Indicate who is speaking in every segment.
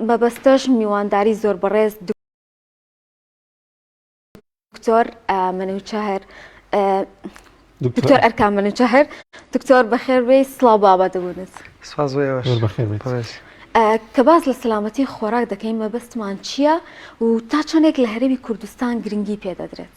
Speaker 1: مەبەستەش میوانداری زۆر بەڕێز دکتۆر منوچهر دکتۆر ئەرکان منوچهر دکتۆر بەخێربێ سلااو بابە دەبوونت کە باز لە سلامەتی خۆراک دەکەین مەبەستمان چییە و تا چەندێک لە هەرێمی کوردستان گرنگی پێدەدرێت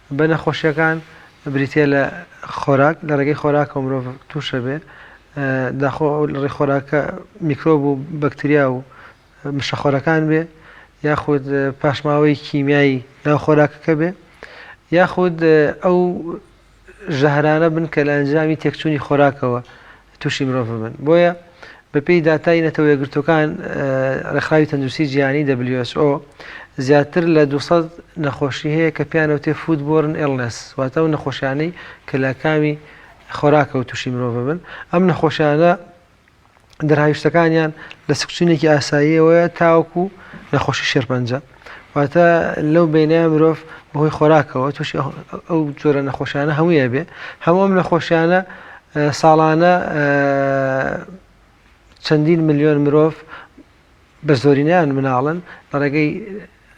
Speaker 1: بە نەخۆشیەکان بریتیە لە خۆراک لە ڕێگەی خۆراکەوە مرۆڤ توشەبێ داخۆ ئەو لە ڕێ خۆراکە میکرۆب و بەکتریا و مشەخۆرەکان بێ یاخود پاشماوەی کیمیایی ناو خۆراکەکە بێ یاخود ئەو ژەهرانە بن کە لە ئەنجامی تێکچوونی خۆراکەوە تووشی مرۆڤ ببن. بۆیە بەپێی داتای نەتەوە یەکگرتووەکان، ڕێکخراوی تەندروستی جیهانی، who، زیاتر لە دوو سەد نەخۆشی هەیە کە پێیان ئەوتێ فوود بۆرن ئیڵنێس، واتە ئەو نەخۆشیانەی کە لە کامی خۆراکەوە تووشی مرۆڤ ئەبن. ئەم نەخۆشیانە دەرهاویشتەکانیان لە سکچوونێکی ئاساییەوەیە تاوەکوو نەخۆشی شێرپەنجە. واتە لەو بینایە مرۆڤ بەهۆی خۆراکەوە تووشی ئەو جۆرە نەخۆشیانە هەموویە بێ هەموو ئەم نەخۆشیانە ساڵانە چەندین ملیۆن مرۆڤ بە زۆرینیان مناڵن لە ڕێگەی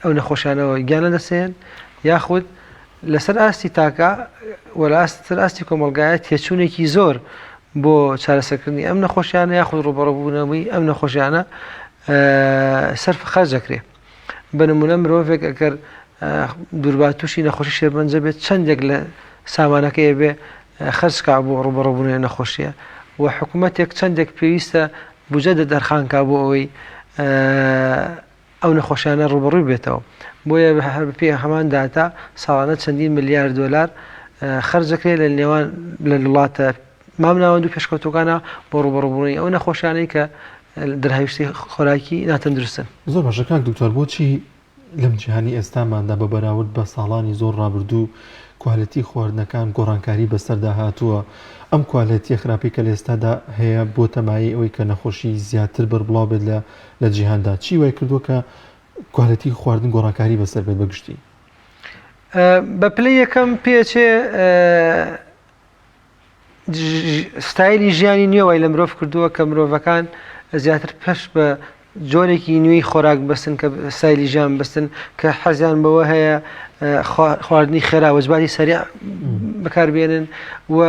Speaker 1: ئەو نەخۆشیانەوە گیانە دەسێن یاخود لەسەر ئاستی تاکە وەلاستر ئاستی کۆمەلگایە تێچوونێکی زۆر بۆ چارەسەکردنی ئەم نەخۆشیانە یاخود ڕوبەڕبوونەوەی ئەم نەخۆشیانە سەرف خەرج دەکرێ بە نمونە مرۆڤێک ئەگەر دووربات تووشی نەخۆشی شێربەنجە بێت چەندێک لە سامانەکەی بێ خەرجکە بۆ ڕوبڕبوونێ نەخۆشیە و حکوومەتێک چەندێک پێویستە بجە دە دەرخانکە بۆ ئەوەی ئەو نەخۆشیانە ڕوبڕوی بێتەوە بۆیە هەر پێ هەمان داتا ساڵانە چەندین ملیار دلار خەرجەکرێت لە نێوان لە وڵاتە مامناوەند و پێشکەوتووەکانە بۆ ڕووبەڕووبوونی ئەو نەخۆشیانەی کە دەرهاویشتی خۆراکی ناتەندروستن. زۆر باشە کاک دکتۆر بۆچی لەم جیهانی ئێستاماندا بە بەراورد بە ساڵانی زۆر ڕابردوو کوالێتی خواردنەکان گۆڕانکاری بەسەردا هاتووە ئەم کوالێتیە خراپەی کە لەئێستادا هەیە بۆتە مایەی ئەوەی کە نەخۆشی زیاتر بەربڵاو بێت لە لە جیهاندا چی وای کردووە کە کوالێتی خواردن گۆڕانکاری بەسەر بێت بەگشتی؟ بە پلەی یەکەم پێچێ ستایلی ژیانی نوێ وای لە مرۆڤ کردووە کە مرۆڤەکان زیاتر پەش بە جۆرێکی نوێی خۆراک بستن کە سایلی ژیان بستن کە حەزیان بەوە هەیە خواردنی خێرا وەجباری سەریا بەکاربێنن و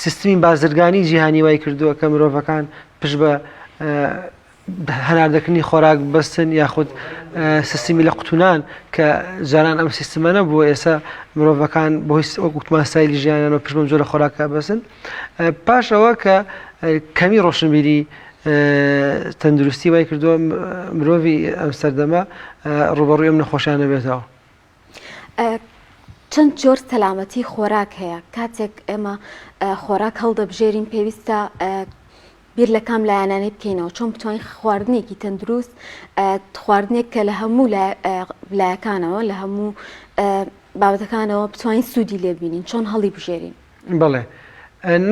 Speaker 1: سیستمی بازرگانی جیهانی وای کردووە کە مرۆڤەکان پشت بە هەناردەکردنی خۆراک بەستن یاخود سیستمی لە قوتونان کە جاران ئەم سیستمە نەبووە ئێستا مرۆڤەکان بۆ هیچ وەکوتمان سایلی ژیانەوە پشمە جۆرە خۆراکە بەسن پاش ئەوە کە کەمی ڕۆشنبیری تەندروستی وای کردووە مرۆڤ ئەم سەردەمە ڕوبەڕویم نەخۆشیانە بێتەوە چەند جۆر سەلامەتی خۆراک هەیە کاتێک ئێمە خۆراک هەڵدەبژێرین پێویستە بیر لە کام لایەنانەی بکەینەوە چۆن بتوانین خواردنێکی تەندروست خواردنێک کە لە هەموو لایەکانەوە لە هەموو بابەتەکانەوە بتوانین سوودی لێبینین چۆن هەڵی بژێرین بەڵێ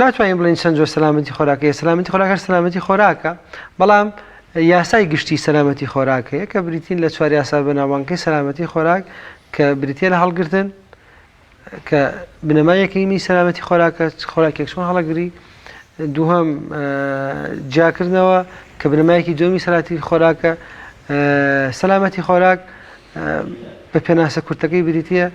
Speaker 1: ناتوانین بڵین چەند جۆر سەلامەتی خۆراکەیە سەلامەتی خۆراکە سەلامەتی خۆراکە بەڵام یاسای گشتی سەلامەتی خۆراکەیە کە بریتین لە چوار یاسا بەناوانکەی سەلامەتی خۆراک کە بریتە لە هەڵگرتن کە بنەما یەکەیمی سەلامەتی خۆراکە خۆراکێک چۆن هەڵەگری دووهم جیاکردنەوە کە بنەمایەکی دومی سەلاتی خۆراکە سەلامەتی خۆراک بە پێناسە کورتەکەی بریتە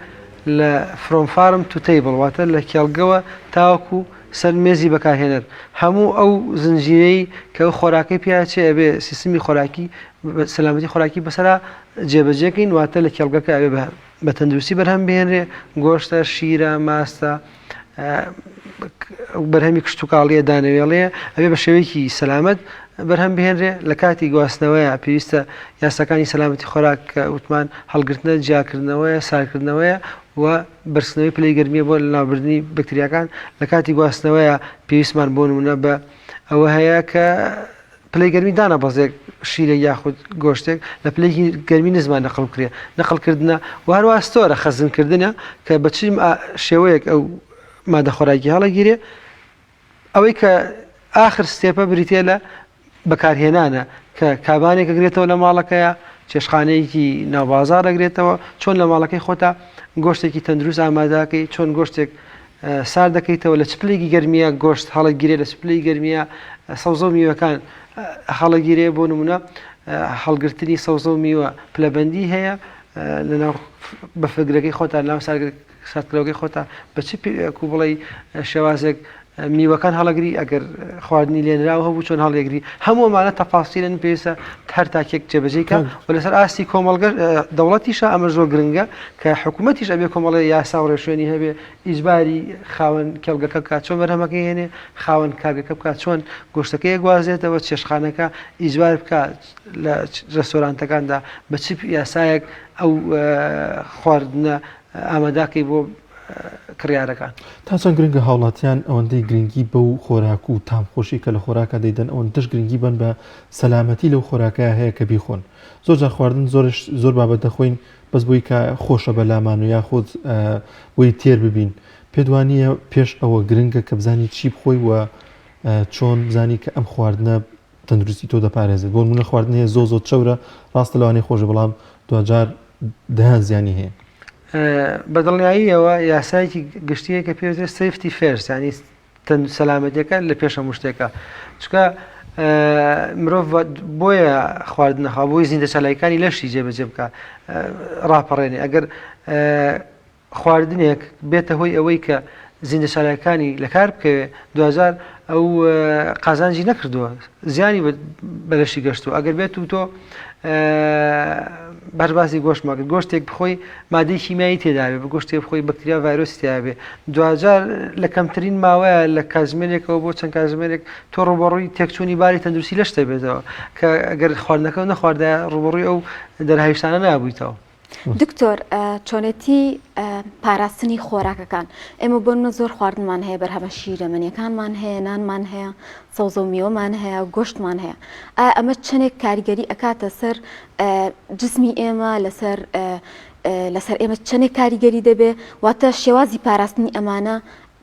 Speaker 1: لە From Farm to Table واتە لە کێڵگەوە تاوەکو سەر مێزی بەکارهێنەر هەموو ئەو زنجیرەی کە ئەو خۆراکەی پێیا چێ ئەبێ سیستمی خۆراکی سەلامەتی خۆراکی بەسەرا جێبەجێکەین واتە لە کێڵگەکە ئەبێ بە تەندروستی بەرهەم بهێنرێ گۆشتە شیرە ماستە بەرهەمی کشتتوکاڵیە دانەوێڵەیە ئەبێ بە شێوەیەکی سەلامت بەرهەم بهێنرێ لە کاتی گواستنەوەیە پێویستە یاساکانی سەلامەتی خۆراک کە وتمان هەڵگرتنە جیاکردنەوەیە سارکردنەوەیە و برسنەوەی پلی گەرمیە بۆ لەناوبردننی بکتریاکان لە کاتی گواستنەوەیە پێویستمان بۆ نمونە بە ئەوە هەیە کە پلەی گەرمی دانە بەزێک شیرێک یاخود گۆشتێک لە پلەیەکی گەرمی نزما نەقڵ بکرێ نەقڵ کردنە و هەروە ستۆرە خەزن کردنە کە بە چی شێوەیەک ئەو مادە خۆراکی هەڵەگیرێ ئەوەی کە ئاخر ستێپە بریتێ لە بەکارهێنانە کە کابانێک گرێتەوە لە ماڵەکەیە چێشخانەیەکی ناوبازار دەگرێتەوە چۆن لە ماڵەکەی خۆتا گۆشتێکی تەندروست ئاماداکەی چۆن گۆشتێک سارد دەکەیتەوە لە چپلێکی گەرمیا گۆشت هەڵەگیرێ لە چپلەی گەرمیا سەوزە و میوەکان هەڵەگیرێ بۆ نمونە هەڵگرتنی سەوزە و میوە پلەبندی هەیە لەناو بەفگرەکەی خۆتان ناو ساردکراوەکەی خۆتا بە چ کو بڵێ شێوازێک میوەکان هەڵەگری ئەگەر خواردنی لێنراوە هەبوو چۆن هەڵێگری هەموومانە تەفاسیلن پێویستە هەر تاکێک جێبەجێکە و لەسەر ئاستی کۆمەڵگە دەوڵەتیشە ئەمە زۆر گرنگە کە حکومەتیش ئەبێ کۆمەڵێ یاسا و ڕێوشوێنی هەبێ، ئیجباری خاوەن کێڵگەکە بکات چۆن بەرهەمەکەی هێنێ، خاوەن کارگەکە بکات چۆن گۆشتەکەی ئەگوازێتەوە، چێشتخانەکە ئیجبار بکا لە ڕێستۆرانتەکاندا بە چ یاسایەک ئەو خواردنە ئامادا کەی بۆ کڕیارەکان. تا چەند گرنگە هاوڵاتیان ئەوەندەی گرنگی بەو خۆراک و تام خۆشی کە لە خۆراکە دەیدەن ئەوەندەش گرنگی بەن بە سەلامەتی لەو خۆراکەیە هەیە کە بیخۆن. زۆر جار خواردن زۆرش زۆر بابەت دەخۆین بەس بۆی کە خۆشە بەلامان و یاخود بۆی تێر ببین پێت وانییە پێش ئەوە گرنگە کە بزانی چی بخۆی و چۆن بزانی کە ئەم خواردنە تەندروستی تۆ دەپارێزێت بۆ منە خواردن هەیە زۆ زۆر چەورە ڕاستە لەوانی خۆشە بەڵام دوجار دەیان زیانی هەیە بەدڵنیاییەوە یاسایەکی گشتیە کە پێوتێ سفتی فێرسانی تەند و سەلامەتیەکە لە پێش هەموو شتێکە چکە مرۆڤ بۆیە خواردنەخوا بۆی زیندە چالاکانی لەشی جێبەجێ بکە ڕاپەڕێنێ ئەگەر خواردنێک بێتە هۆی ئەوەی کە زیندە چالاکانی لە کار بکەوێ دوجار ئەو قازانجی نەکردووە زیانی بە لەشی گەشتووە ئەگەر بێت و تۆ بەر باسی گۆشت مەکرد گۆشتێک بخۆی مادەی شیمایی تێداێ بە گۆشتێ بخۆی بەکتریا ڤایرۆسیابێ دوجار لە کەمترین ماوەیە لە کاتژمێرێکەوە بۆ چەند کاتژمێرێک تۆ ڕوبڕووی تێکچوونی باری تەندروستی لەشتە بێتەوە کە گەر خواردنەکە نەخواردە ڕوبڕووی ئەو دەرهایشتانە نابوویتەوە دکتۆر چۆنێتی پاراستنی خۆراکەکان ئێمە بۆ منە زۆر خواردنمان هەیە بەرهەمە شیرەمەنیەکانمان هەیە نانمان هەیە سەوزە و میوەمان هەیە گۆشتمان هەیە ئایا ئەمە چەندێک کاریگەری ئەکاتە سەر جسمی ئێمە لەسەر لەسەر ئێمە چەندێک کاریگەری دەبێ واتە شێوازی پاراستنی ئەمانە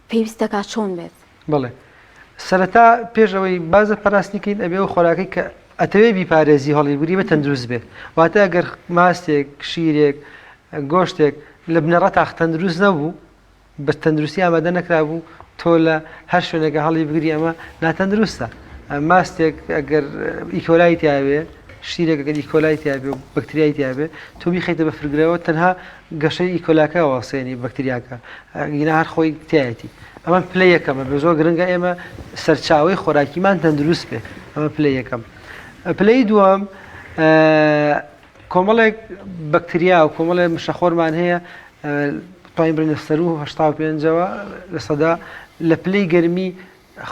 Speaker 1: پێویست دەکات چۆن بێت؟ بەڵێ سەرەتا پێش ئەوەی باز لە پاراستنی کەین ئەبێ ئەو خۆراکەی کە ئەتەوێ بیپارێزی هەڵی بوری بە تەندروست بێت واتە ئەگەر ماستێک شیرێک گۆشتێک لە بنەڕە تاخ تەندروست نەبوو بە تەندروستی ئامادە نەکرابوو تۆ لە هەر شوێنێکە هەڵی بگری ئەمە ناتەندروستە ماستێک ئەگەر ئیکۆلای تیاوێ شیرێکەکەدی کۆلای تیاێ و بەکتریای تیاێ تۆ بیخیتە بە فرگرەوە تەنها گەشەی ئیکۆلاکە و سێنی بەکتریاکە گینا هەر خۆی تایەتی ئەمە پلە یەکەمە بە زۆر گرنگە ئێمە سەرچاوی خۆراکیمان تەندروست بێ ئەمە پلە یەکەم پلەی دووەم کۆمەڵێک بەکتریا و کۆمەڵێ مشەخۆرمان هەیە توانین بڵێن سەر و هشتا و پێنجەوە لە سەدا لە پلەی گەرمی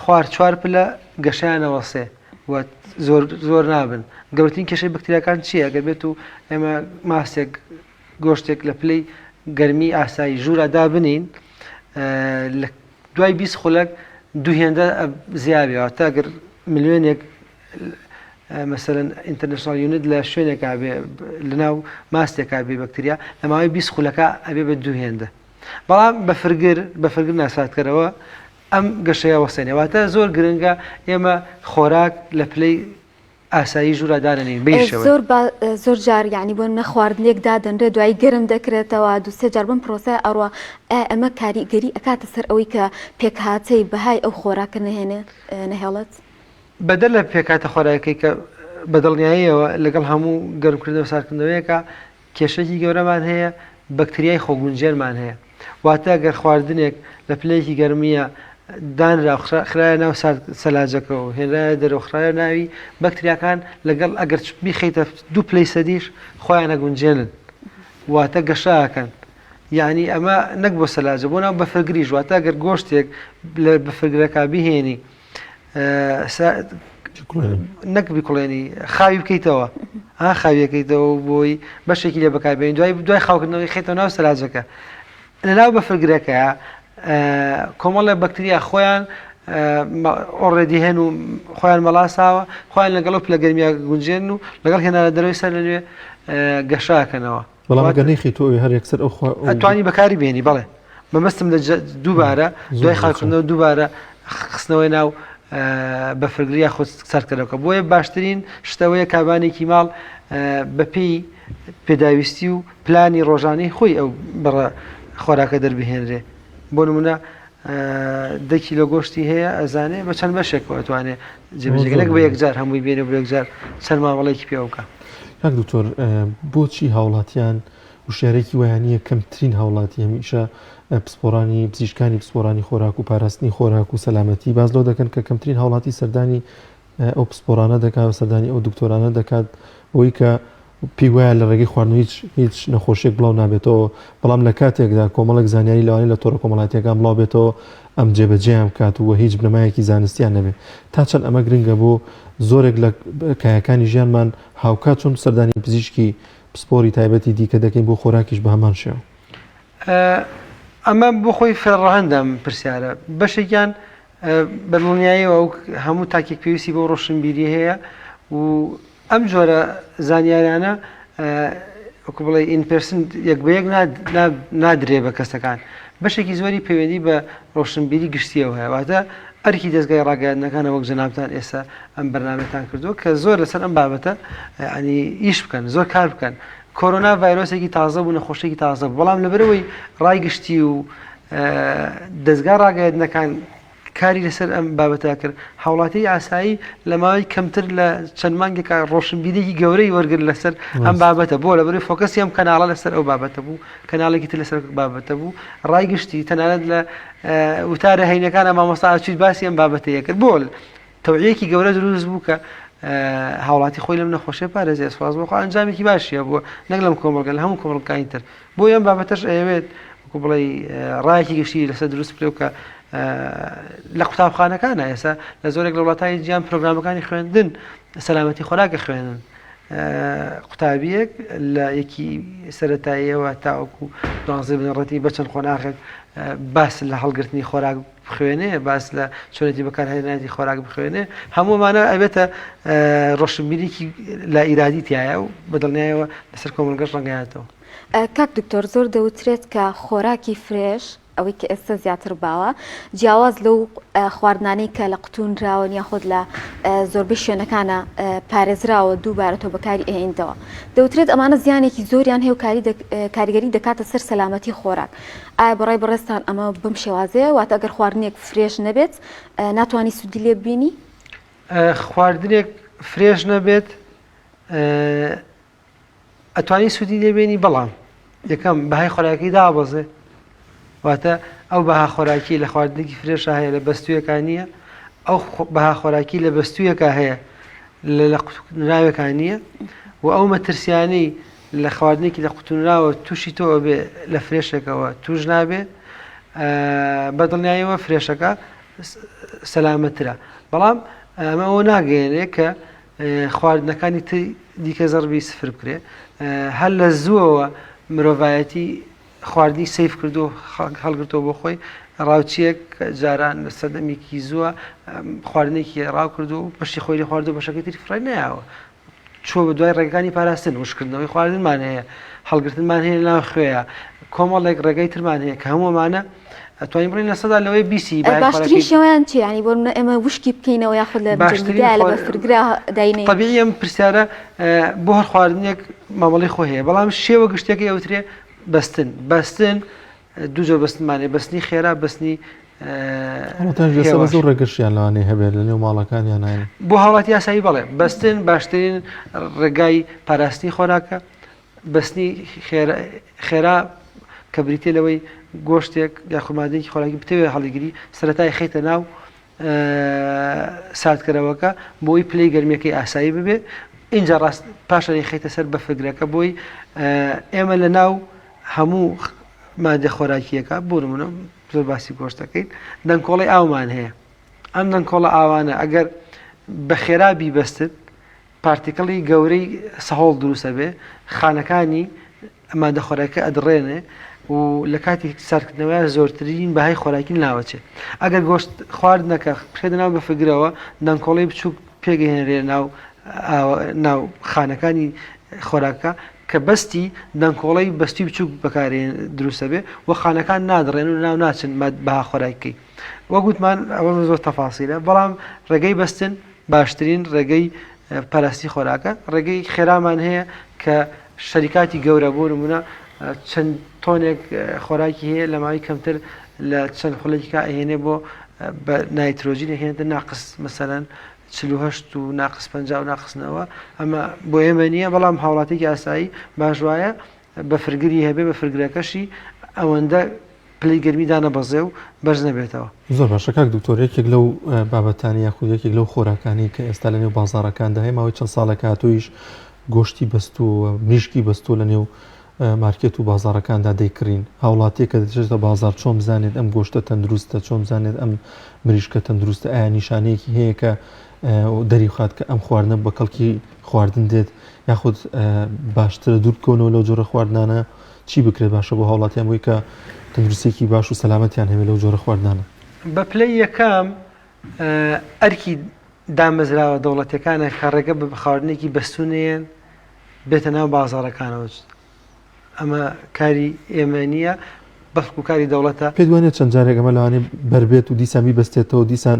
Speaker 1: خوار چوار پلە گەشیانەوە سێ زۆر زۆر نابن گەورترین کێشەی بکتریاکان چییە گەر بێت و ئێمە ماسێک گۆشتێک لە پلەی گەرمی ئاسایی ژوورا دابنێین لە دوای بیست خولەک دوو هێندە زیابێ واتە گەر ملیۆنێک مەسەرەن ئینتەرنشنال یونت لە شوێنێکا بێ لەناو ماستێکا بێ بەکتریا لە ماوەی بیست خولەکە ئەبێ بە دوو هێندە بەڵام بە فرگر بە فرگر ناساتکەرەوە ئەم گەشەیە وەسێنێ واتە زۆر گرنگە ئێمە خۆراک لە پلەی ئاسایی ژوورا دانەنێین بەی شێوەیە. زۆر با زۆر جار یعنی بۆ نمونە خواردنێک دادەنرێ دوایی گەرم دەکرێتەوە دوو سێ جار بەم پرۆسەیە ئەڕوا ئایا ئەمە کاریگەری ئەکاتە سەر ئەوەی کە پێکهاتەی بەهای ئەو خۆراکە نەهێنێ نەهێڵێت؟ بەدەر لە پێکهاتە خۆراکەکەی کە بەدڵنیاییەوە لەگەڵ هەموو گەرمکردنەوە ساردکردنەوەیەکا کێشەیەکی گەورەمان هەیە، بەکتریای خۆگونجێنمان هەیە، واتە گەر خواردنێک لە پلەیەکی گەرمییە دانرا و خرایە ناو سارد سەلاجەکە و هێنرایە دەرەوە خرایە ناوی، بەکتریاکان لەگەڵ ئەگەر بیخەیتە دوو پلەی سەدیش خۆیان ئەگونجێنن، واتە گەشە ئەکەن، یانی ئەمە نەک بۆ سەلاجە بۆ ناو بەفرگریش، واتە گەر گۆشتێک لە بەفرگرەکە بیهێنی نەک بکڵێنی خاوی بکەیتەوە ها خاویەکەیتەوە بۆی بەشێکی لێ بەکاربێن دوای دوای خاوکردنەوەی خێتەوە ناو سەراجەکە لەناو بەفرگرەکە کۆمەڵە بەکتریا خۆیان ئۆڕێدی هەن و خۆیان مەڵاساوە خۆیان لەگەڵ پلە گەرمیا گونجێن و لەگەڵ هێنانە دەروی سەر لەنوێ گەشاکەنەوە بەڵام ئەگەر نەیخەیتو ئەوێ هەر یەکسەر ئەو خوا ئەو ئەتوانی بەکاری بێنی بەڵێ مەبەستم لە جە دووبارە زۆر دوای باشە. خاکردنەوە دووبارە خ- خستنەوەی ناو ئە، بەفرگر یاخود ساردکەرەوەکە بۆیە باشترین شت ئەوەیە کابانێکی ماڵ ئە، بەپێی پێداویستی و پلانی ڕۆژانەی خۆی ئەو بڕە خۆراکە دەربهێنرێ بۆ نمونە دە کیلۆ گۆشتی هەیە ئەزانێ بە چەند بەشێکەوە ئەتوانێ جێبەجێکە نەک بە یەکجار هەمووی بێنێ بۆ یەکجار چەند مامەڵەیەکی پێوە بکە کاک دکتۆر بۆچی هاوڵاتیان وشارێکی وایانە کەمترین هاوڵاتی هەمیشە پسپۆرانی پزیشکانی پسپۆرانی خۆراک و پاراستنی خۆراک و سەلامەتی باز لەو دەکەن کە کەمترین هاوڵاتی سەردانی ئەو پسپۆرانە دەکات سەردانی ئەو دکتۆرانە دەکات بۆی کە پێی وایە لە ڕێگەی خواردنەوە هیچ هیچ نەخۆشییەک بڵاو نابێتەوە، بەڵام لە کاتێکدا کۆمەڵێک زانیاری لەوانەیە لە تۆڕە کۆمەڵاتییەکان بڵاو بێتەوە ئەم جێبەجێیان بکات و هیچ بنەمایەکی زانستییان نەبێت. تا چەند ئەمە گرنگە بۆ زۆرێک لە کایەکانی ژیانمان، هاوکات چۆن سەردانی پزیشکی پسپۆری تایبەتی دیکە دەکەین، بۆ خۆراکیش بە هەمان شێوە. ئەمە بۆ خۆی فێرڕەهەندە ئەم پرسیارە. بەشێکیان بە دڵنیاییەوە ئەو هەموو تاکێک پێویستی بەو ڕۆشنبیرییە هەیە و ئەم جۆرە زانیاریانە وەکو بڵێ ئین پێرسن یەک بە یەک نادرێ بە کەسەکان بەشێکی زۆری پەیوەندی بە ڕۆشنبیری گشتیەوە هەیە واتە ئەرکی دەستگای ڕاگەیاندنەکانە وەک جەنابان ئێستا ئەم بەرنمەتان کردو کە زۆر لەسەر ئەم بابەتە ینی ئیش بکەن زۆر کار بکەن کۆرۆنا ڤایرۆسێکی تازە بوو نەخۆشێکی تازە بەڵام لەبەرەوەی ڕای گشتی و دەستگا ڕاگەیاندنەکان کاری لەسەر ئەم بابەتە کرد. هاوڵاتی ئاسایی لە ماوەی کەمتر لە چەند مانگێکا ڕۆشنبیریی گەورەی وەرگرت لەسەر ئەم بابەتە. بۆ؟ لەبەرئەوەی فۆکەسی ئەم کەناڵە لەسەر ئەو بابەتە بوو، کەناڵێکی تر لەسەر بابەتە بوو. ڕای گشتی تەنانەت لە وتارە هەینەکانا مامۆستا ئاچووی باسی ئەم بابەتەی ئەکرد. بۆ؟ تەوعیەکی گەورە دروست بوو کە هاوڵاتی خۆی لەم نەخۆشیە پارێزێ سواز بۆخوا ئەنجامێکی باشیە بۆ نەک لەم کۆمەڵگە لە هەموو کۆمەڵگانی تر بۆ یەم بابەتەش ئەیەوێت وەکو بڵێ ڕایەکی گشتی لەسەر دروست بکرێ و کە لە قوتابخانەکانە ئێستا لە زۆرێک لە وڵاتانی جیان پرۆگرامەکانی خوێندن سەلامەتی خۆراکە خوێنن قوتابیەک لە یەکی سەتاییەوە تاوەکو دوانزە بنەڕەتی بەچەند قۆناغێک باس لە هەڵگرتنی خۆراک بخوێنێ باس لە چۆنێتی بەکارهێنانی خۆراک بخوێنێ هەموو ئەمانە ئەبێتە ڕۆشنبیریکی لا ئیرادی تایە و بەدڵنیایەوە لەسەر کۆمەڵگەش ڕەنگایەتەوە کاک دکتۆر زۆر دەوترێت کە خۆراکی فرێش ئەوەی کە ئێستا زیاتر باوە جیاواز لەو خواردنانەی کە لە قوتونراوە یاخود لە زۆربەی شوێنەکانە پارێزراوە دووبارە تۆ بەکاری ئەهێنیتەوە دەوترێت ئەمانە زیانێکی زۆریان هێوکاری کاریگەری دەکاتە سەر سەلامەتی خۆراک ئایا بەڕای بەڕێزتان ئەمە بەم شێوازەیە واتە گەر خواردنێک فرێش نەبێت ناتوانانی سوودی لێ ببینی خواردنێک فرێش نەبێت ئەتوانی سوودی لێبێنی بەڵام یەکەم بەهای خۆراکی دابەزێ واتە ئەو بەها خۆراکی لە خواردنێکی فرێشە هەیە لە بەستویەکان نییە ئەو بەها خۆراکی لە بەستویەکە هەیە لە لە قوتنراوەکان نییە و ئەو مەترسیانەی لە خواردنێکی لە قوتونراوە توشی تۆ ئەبێ لە فرێشێکەوە توش نابێ بە دڵنیایەوە فرێشەکە سەلامەترە بەڵام ئەمە ئەوە ناگەێنێ کە خواردنەکانی دیکە زەڕبی سفر بکرێ هەر لە زووەوە مرۆڤایەتی خواردنی سیف کردو هەڵگرتۆ بۆ خۆی ڕاوچیەک جاران لە سەدەمێکی زووە خواردنێکی ڕاو کردو پشتی خۆی لە خواردو بەشەکەی تری فڕای نایەوە چووە بەدوای ڕێگەکانی پاراستن، وشککردنەوەی خواردنمان هەیە، هەڵگرتنمان هەیە لەناو خوێیە، کۆمەڵێک ڕێگای ترمان هەیە کە هەموو ئەمانە ئەتوانین بڵێین لە سەدا لەوەی بیسی باشترین باشترین خۆراکی شێوەیان چیە یعنی بۆ نمونە ئێمە وشکی بکەینەوە یاخود لە باشترین جەمدیدە لە خۆ- بەفرگرا داینێ طبیعی ئەم پرسیارە اه، بۆ هەر خواردنێک مامەڵەی خۆی هەیە بەڵام شێوە گشتیەکەی ئەوترێ بەستن بەستن دوو جۆر بەستنمان هەیە، بەستنی خێرا، بەستنی هێواش. ڕێگەشیان لەوانەیە هەبێت لەنێو ماڵەکانیان هەن. بۆ هاوڵاتی یاسایی بەڵێ، بەستن باشترین ڕێگای پاراستنی خۆراکە. بەستنی خێرا کە بریتییە لەوەی گۆشتێک یاخود ماددەیەکی خۆراکی بتەوێت هەڵیگری، سەرەتا ئەیخەیتە ناو ساردکەرەوەکە بۆی پلەی گەرمیەکەی ئاسایی ببێ ئینجا ڕاست پاشانی خیتە سەر بەفرگرەکە بۆی ئێمە لە ناو هەموو مادە خۆراکیەکە بورمونە زۆر باسی گۆشتەکەین دەنکۆڵی ئاومان هەیە ئەم دەنکۆڵە ئاوانە ئەگەر بە خێرا بیبەستت پارتیکڵی گەورەی سەهۆڵ دروست ئەبێ خانەکانی مادە خۆراکیەکە ئەدڕێنێ و لەکاتی ساردکردنەوەیان زۆرترین بەهای خۆراکی ناوەچێ ئەگەر گۆشت خواردنەکە بخرێتە ناو بەفرگرەوە دەنکۆڵەی بچووک پێگەیەنرێ ناو ناو خانەکانی خۆراکە کە بەستی دەنکۆڵەی بەستی بچووک بەکارێ دروستە بێ و خانەکان نادڕێن و ناو ناچن بەها خۆراکی وەگوتمان ئەوە زۆر تەفاسیلە بەڵام ڕێگەی بەستن باشترین ڕێگەی پەرەستی خۆراکە، ڕێگەیەکی خێرامان هەیە کە شەریکاتی گەورە بۆ نموونە چەند تۆنێک خۆراکی هەیە لە ماوەی کەمتر لە چەند خولەکیکا ئەهێنێ بۆ بە نایترۆجین ئەهێنێتە ناقس مەسەلەن چل و هەشت و ناقس پەنجا و ناقس نەوە ئەمە بۆ ئێمە نییە بەڵام هاوڵاتیکی ئاسایی باش وایە بەفرگری هەبێ بەفرگرەکەشی ئەوەندە پلەی گەرمی دانەبەزێ و بەرز نەبێتەوە. زۆر باشە کاک دکتۆر یەکێک لەو بابەتانە یاخود یەکێک لەو خۆراکانەی کە ئێستا لە نێو بازاڕەکاندا هەیە ماوەی چەند ساڵێک هاتوویش گۆشتی بەستووە مریشکی بەستووە لە نێو مارکێت و بازاڕەکاندا دەیکڕین هاوڵاتیە کە دەچێتە بازار چۆن بزانێت ئەم گۆشتە تەندروستە چۆن بزانێت ئەم مریشکە تەندروستە ئایا نیشانەیەکی هەیە کە و دەریخات کە ئەم خواردنە بە کەڵکی خواردن دێت یاخود باشترە دوور بکەونەوە لەو جۆرە خواردنانە چی بکرێت باشە بۆ هاوڵاتیان بووی کە تەندروستێکی باش و سەلامەتیان هەبێت لەو جۆرە خواردنانە بە پلەی یەکەم ئەرکی دامەزراوە دەوڵەتەکانە کە ڕێگە بە بخواردنێکی بەستونەیەن بێتە ناو بازارەکانەوە ئەمە کاری ئێمە نییە بەڵکو کاری دەوڵەتە پێدوانێت چەند جارێکەمە لەوانی بەربێت و دیسان بیبستێتەوە دیسان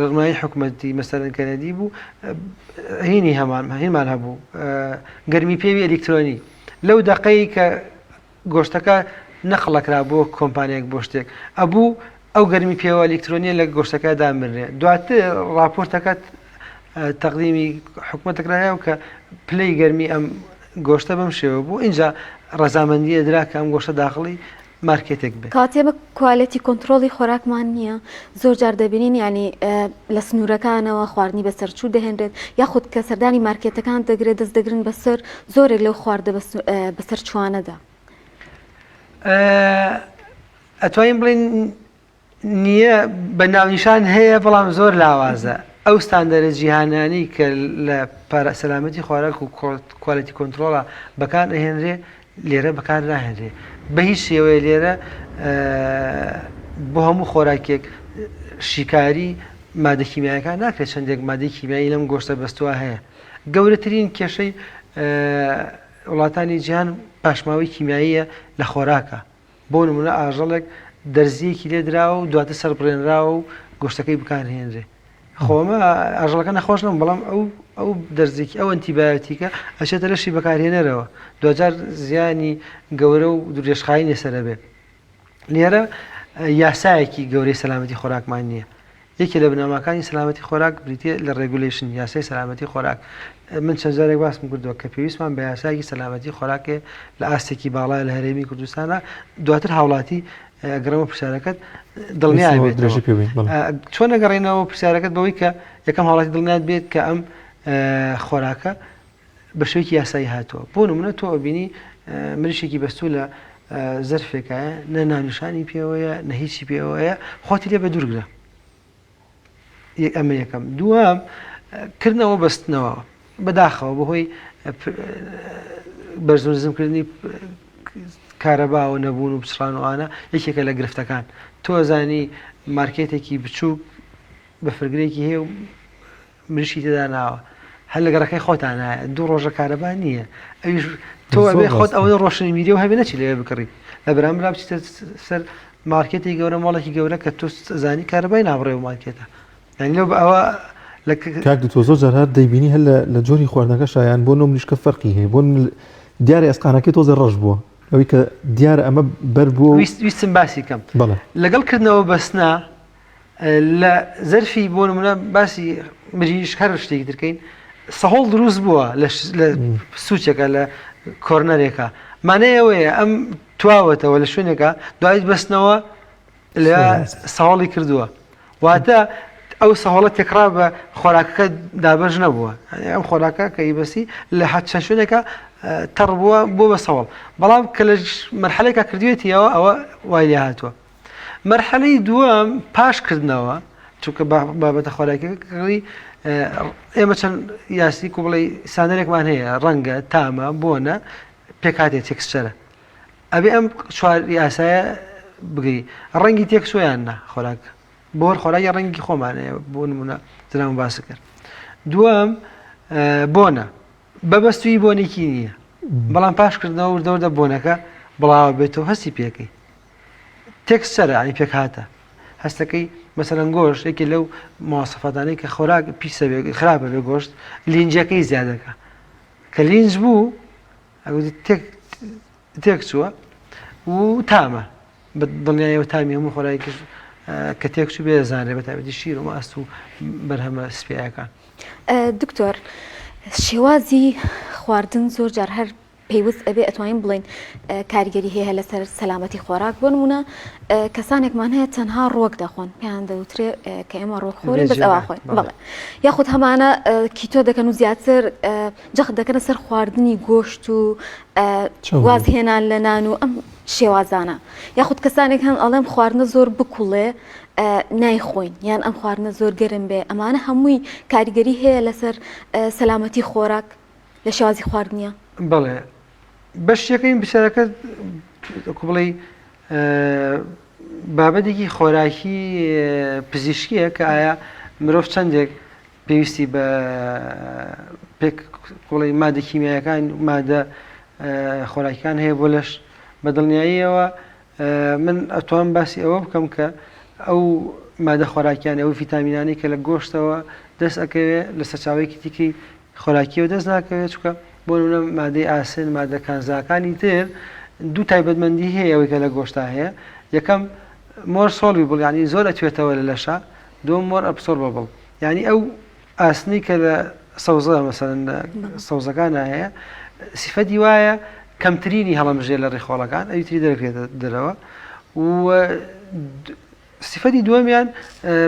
Speaker 1: ڕێنمایی حکومەتی مەسەرەن کەنەدی بوو هینی هەمان هینمان هەبوو گەرمی پێوی ئەلیکترۆنی لەو دەقەی کە گۆشتەکە نەخڵەکرا بۆ کۆمپانیەک بۆ شتێک ئەبوو ئەو گەرمی پێوە ئەلیکترۆنیە لە گۆشتەکە دامرێ دواتر راپۆرتەکەت تەقدیمی حکومەتەکرایە و کە پلەی گەرمی ئەم گۆشتە بەم شێوە بوو اینجا ڕزامەندیە درا کە ئەم گۆشە داخڵی مارکێتێک بێت. کاتێ بە کوالێتی کۆنتڕۆڵی خۆراکمان نییە، زۆر جار دەبینین یانی لە سنوورەکانەوە خواردنی بەسەرچوو دەهێنرێت، یاخود کە سەردانی مارکێتەکان دەگرێت دەست دەگرن بەسەر زۆرێک لەو خواردە بەسەرچووانەدا. ئەتوانین بڵێین نییە، بە ناونیشان هەیە، بەڵام زۆر لاوازە. ئەو ستاندەرە جیهانانەی کە لە پارە سەلامەتی خۆراک و کوالێتی کۆنترۆڵا بەکار ئەهێنرێ، لێرە بەکار ناهێنرێ. بە هیچ شێوەیە لێرە بۆ هەموو خۆراکێک شیکاری مادە کیمیایەکان ناکرێ، چەندێک مادەی کیمیایی لەم گۆشتە بەستووە هەیە. گەورەترین کێشەی وڵاتانی جیهان پاشماوەی کیمیاییە لە خۆراکە. بۆ نموونە ئاژەڵێک دەرزییەکی لێ دراوە و دواتر سەربڕێنراوە و گۆشتەکەی بکارهێنرێ خۆ ئەمە ئاژەڵەکە نەخۆش نەبوو بەڵام ئەو ئەو دەرزێکی ئەو ئەنتیبایۆتیکە ئەچێتە لەشی بەکارهێنەرەوە دوجار زیانی گەورە و درێژخایەنی لەسەر ئەبێ لێرە یاسایەکی گەورەی سەلامەتی خۆراکمان نییە یەکێ لە بنەماکانی سەلامەتی خۆراک بریتییە لە ڕێگولەیشن، یاسای سەلامەتی خۆراک. من چەند جارێک باسم کردووە کە پێویستمان بە یاسایەکی سەلامەتی خۆراکێ لە ئاستێکی باڵا لە هەرێمی کوردستانا، دواتر هاوڵاتی، ئەگەڕێمەوە پرسیارەکەت، دڵنیای بێتەوە. چۆن ئەگەڕێینەوە پرسیارەکەت بەوەی کە یەکەم هاوڵاتی دڵنیات بێت کە ئەم خۆراکە بە شێوەیەکی یاسایی هاتووە بۆ نمونە تۆ ئەبینی مریشێکی بەستوو لە زەرفێکایە نە ناونیشانی پێوەیە نە هیچی پێوەیە خۆتی لێ بە دوورگرە ئەمە یەکەم دووەم کردنەوە بەستنەوە بەداخەوە بەهۆی بەرزۆزمکردنی کارەباوە نەبوون و بچڕانوانە یەکێکە لە گرفتەکان تۆزانی مارکێتێکی بچووک بە فرگرێکی هەیە و مریشکی تێدا ناوە هەر لە گەڕەکەی خۆتانایە دوو ڕۆژە کارەبا نییە ئەویش تۆ ئەبێ خۆت ئەوەی ڕۆشنبیری و هەبێ نەچی لەوێ بکڕی لە بەرامبرا بچیتە سەر مارکێتی گەورە ماڵێکی گەورە کە تۆ زانی کارەبای نابڕێ و مارکێتە یعنی لەو بە ئەوە کاک دکتۆر زۆر جار هەر دەیبینی هەر لە جۆری خواردنەکە شایان بۆ نۆ مریشکە فەرقی هەیە بۆ دیارە ئەسقانەکەی تۆزە ڕەش بووە ئەوی کە دیارە ئەمە بەر بووە ویستم باسی کەم لەگەڵ کردنەوە بەسنا لە زەرفی بۆ نمونە باسی مریش هەر شتێکی ترکەین سەهۆڵ دروست بووە لە سوچەکە لە کۆرنەرێکە مانە ئەوەیە ئەم تواوەتەوە لە شوێنێکە دوایت بستنەوە لە ساڵی کردووە واتە ئەو سەهۆڵە تێکرا بە خۆراکەکە دابش نەبووە ئەم خۆراکە کە ئیبسی لە حەت چەند شوێنێکە تەڕ بووە بۆ بە سەوڵ بەڵام کە لە مرحلێکا کردوێتیەوە ئەوە وای لێ هاتووە مەرحەلەی دووەم پاش کردنەوە چونکە بابەتە خۆراکەکەڕی ئێمە چەند یاسی کو بڵی سانەرێکمان هەیە ڕەنگە تامە بۆنە پێکاتێ تێکسچەرە ئەبێ ئەم چوار یاسایە بگری ڕەنگی تێک سویان نە خۆراک بۆ هەر خۆراکی ڕەنگی خۆمانەیە بۆ نمونە درام باس کرد دووەم بۆنە بەبەستوی بۆنێکی نییە بەڵام پاشکردنەوە وردەوردە بۆنەکە بڵاوە بێتەوە هەستی پێەکەی تێکسچەرە ئەنی پێکهاتە هەستەکەی مەسەرەن گۆش یەکێ لەو موواسەفاتانەی کە خۆراک پیسە خراپە بێ گۆشت لینجەکەی زیادەکە کە لینج بوو تێک چووە و تامە بە دڵنیایەوە تامی هەموو خۆراکی کرد کە تێک چوو بێ زانێ بە تابەتی شیر و ماست و بەرهەمە سپیەکان دکتۆر شێوازی خواردن زۆر جار هەر پێوست ئەبێ ئەتوانین بڵێین کاریگەری هەیە لەسەر سەلامەتی خۆراک بۆ نمونە کەسانێکمان هەیە تەنها ڕۆک دەخۆن پێیان دەوترێ کە ئێمە ڕۆکخۆری بەس ئەوا خۆین بڵێ یاخود هەمانە کیتۆ دەکەن و زیاتر جەخت دەکەنە سەر خواردنی گۆشت و وازهێنان لە نان و ئەم شێوازانە یاخود کەسانێک هەن ئەڵێم خواردنە زۆر بکوڵێ نایخۆین یان ئەم خواردنە زۆر گەرم بێ ئەمانە هەمووی کاریگەری هەیە لەسەر سەلامەتی خۆراک لە شێوازی خواردنیە بەڵێ بەشتەکەی بسەرەکە بڵێ بابەتێکی خۆراکی پزیشکیە کە ئایا مرۆڤ چەندێک پێویستی بە پێک قوڵی مادە کیمیایەکان مادە خۆراکیان هەیە بۆ لەش بە دڵنیاییەوە من ئەتوام باسی ئەوە بکەم کە ئەو مادە خۆراکیانە ئەو ڤیتامینانەی کە لە گۆشتەوە دەست ئەکەوێ لە سەرچاوەیەکی دیکەی خۆراکیەوە دەست ناکەوێت چکە بۆ نە مادەی ئاسن مادەکان زاکانی تر دوو تایبەتمەندی هەیە ئەوەی کە لە گۆشتا هەیە یەکەم مۆر سۆڵی بڵیانی زۆر ئەتوێتەوە لە لەشە دوم مۆر ئەپسۆر بەبڵ ینی ئەو ئاسنی کە لە سەوزە مەسەلەن لە سەوزەکانا هەیە سیفەتی وایە کەمترینی هەڵەمژێ لە ڕیخۆڵەکان ئەوی تری دەرکرێتە دەرەوە و سیفەتی دووەمیان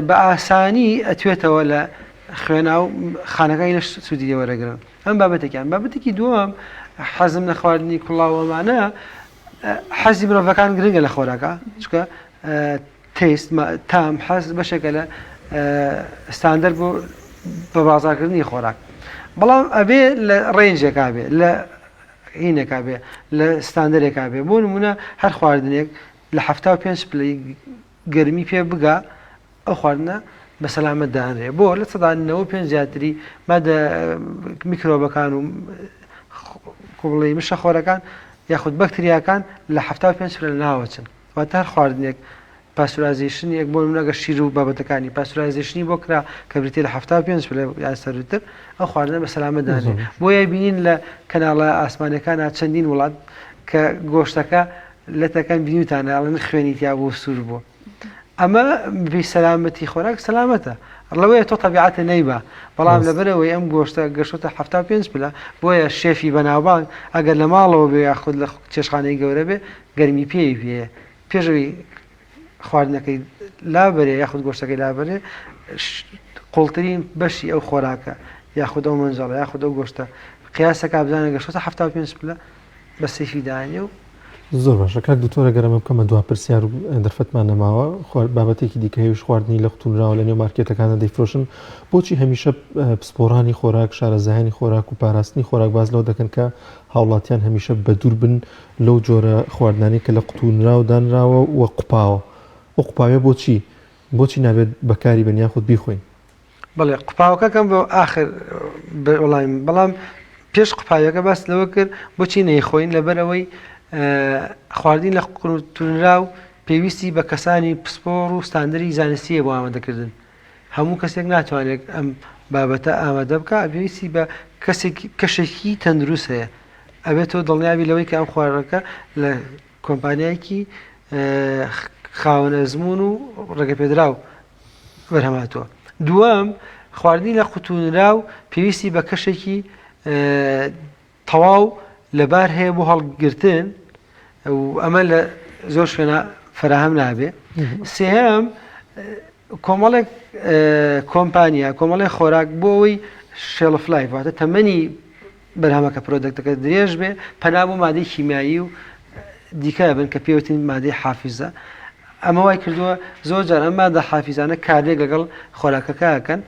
Speaker 1: بە ئاسانی ئەتوێتەوە لە خوێنا و خانەکانی لەش سوودی لێوەرەگرن ئەم بابەتێکیان بابەتێکی دووەم حەزم لە خواردنی کوڵاوەمانە حەزی مرۆڤەکان گرنگە لە خۆراکە چکە تەیست، تام، حەز بەشێکە لە ستاندەر بۆ بە بازاڕکردنی خۆراک بەڵام ئەبێ لە ڕێنجێکا بێ لە هینێکا بێ لە ستاندەرێکا بێ بۆ نمونە هەر خواردنێک لە حەفتا و پێنج پلەی گەرمی پێ بگا ئەو خواردنە بە سەلامەت دانرێ بۆ لە سەدا نەوە پێ زیاتری مادە میکرۆبەکان و کوڵی مشە خۆرەکان یاخود بەکتریاکان لە حەفتا و پێنج پلە ناوەچن واتە هەر خواردنێک پاستورازەیشن یەک بۆ نمونە گەر شیر و بابەتەکانی پاستورازەیشنی بۆ کرا کە بریتیە لە حەفتا و پێنج پلە یان سەرووتر ئەو خواردنە بە سەلامەت دانێ بۆیە بینین لە کەناڵە ئاسمانەکانە چەندین وڵات کە گۆشتەکە لەتەکەم بینیوتانە ئەڵێن خوێنی تیا بوو سوور بوو ئەمە بی سەلامەتی خۆراک سەلامەتە ڕڵەوەیە تۆ تەبیعاتە نەیبا بەڵام لەبەرەوەی ئەم گۆشتە گەشتە ه پێ پلە بۆیە شێفی بەناوبانگ ئەگەر لە ماڵەوە بێ یاخود لە چێشخانەی گەورە بێ گەرمی پێ بێ پێش ئەوی خواردنەکەی لابەرێ یاخود گۆشتەکەی لابەرێ قوڵترین بەشی ئەو خۆراکە یاخود ئەو مەنجەڵە یاخود ئەو گۆشتە قیاسەکە بزانە گەشتە ه پێ پلە بە سیفی داێ و زۆر باشە کاک دکتۆرە گەرەمە بکەمە دو پرسیار و دەرفەتمان نەماوە بابەتێکی دیکە هێوش خواردنی لە قوتونراوە لە نێو مارکێتەکانە دەیفرۆشن بۆچی هەمیشە پسپۆرانی خۆراک شارەزایانی خۆراک و پاراستنی خۆراک باز لەوە دەکەن کە هاوڵاتیان هەمیشە بە دوور بن لەو جۆرە خواردنانەی کە لە قوتونراو دانراوە و قوپاوە، ئەو قوپاویە بۆچی بۆچی نابێت بەکاری بێن یاخود بیخۆین؟ بەڵێ قوپاوەکە کەم بۆ ئاخر وەڵامی بەڵام پێش قوپاویەکە باس لەوە کرد بۆچی نەیخۆین لەبەر ئەوەی خواردنی لە قوتونراو پێویستی بە کەسانی پسپۆڕ و ستاندەری زانستیە بۆ ئامادەکردن هەموو کەسێک ناتوانێت ئەم بابەتە ئامادە بکا پێویستی بە کەسێکی کەشێکی تەندروست هەیە ئەبێت تۆ دڵنیابی لەوەی کە ئەم خوارەکە لە کۆمپانیایەکی خاوەن ئەزمون و ڕێگە پێدراو بەرهەماتوە دووەم خواردنی لە قوتونرا و پێویستی بە کەشێکی تەواو لەبار هەیە بۆ هەڵگرتن و ئەمە لە زۆر شوێنە فەراهەم نابێ سێهەم کۆمەڵێک کۆمپانیا کۆمەڵی خۆراک بۆ ئەوەی شێڵف لایف واتە تەمەنی بەرهەمەکە پرۆدەکتەکە درێژ بێ پەنا بۆ مادەی کیمیایی و دیکە بن کە پێوتین مادەی حافزە ئەمە وای کردووە زۆر جار ئەم مادە حافزانە کاردێک لەگەڵ خۆراکەکەکەن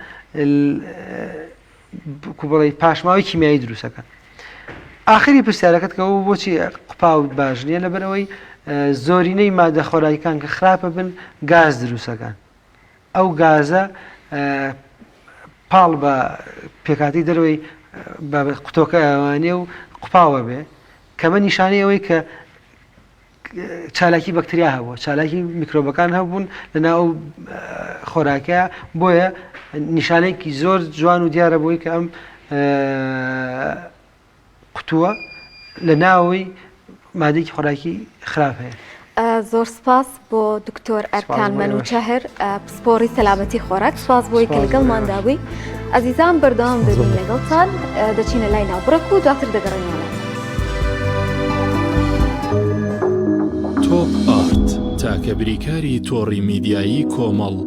Speaker 1: بڵێ پاشماوەی کیمیایی دروستەکەن ئاخری پرسیارەکەت کە بۆ بۆچی قپاوت باش نییە لەبەرەوەی زۆرینەی مادە خۆراکان کە خراپە بن گاز دروستەکان ئەو گازە پاڵ بە پێکاتی دەروی بە قوتۆکە ئەوانێ و قپاوە بێ کەمە نیشانەی ئەوەی کە چالاکی بەکتریا هەبوو چالاکی میکرۆبەکان هەبوون لەناو ئەو خۆراکە بۆیە نیشانێکی زۆر جوان و دیارە بۆی کە ئەم قوتووە لە ناوەی مادێکی خۆراکی خراپ هەیە زۆر سپاس بۆ دکتۆر ئەرکان مەنوچەهر پۆڕی سەلامەتی خۆراک سواز بۆی کە لەگەڵمان دابووی ئازیزان بەردەوام دەبین لەگەڵتان دەچینە لای ناوبڕک و دواتر دەگەڕێنەوە تۆپ ئارت تاکە بریکاری تۆڕی میدیایی کۆمەڵ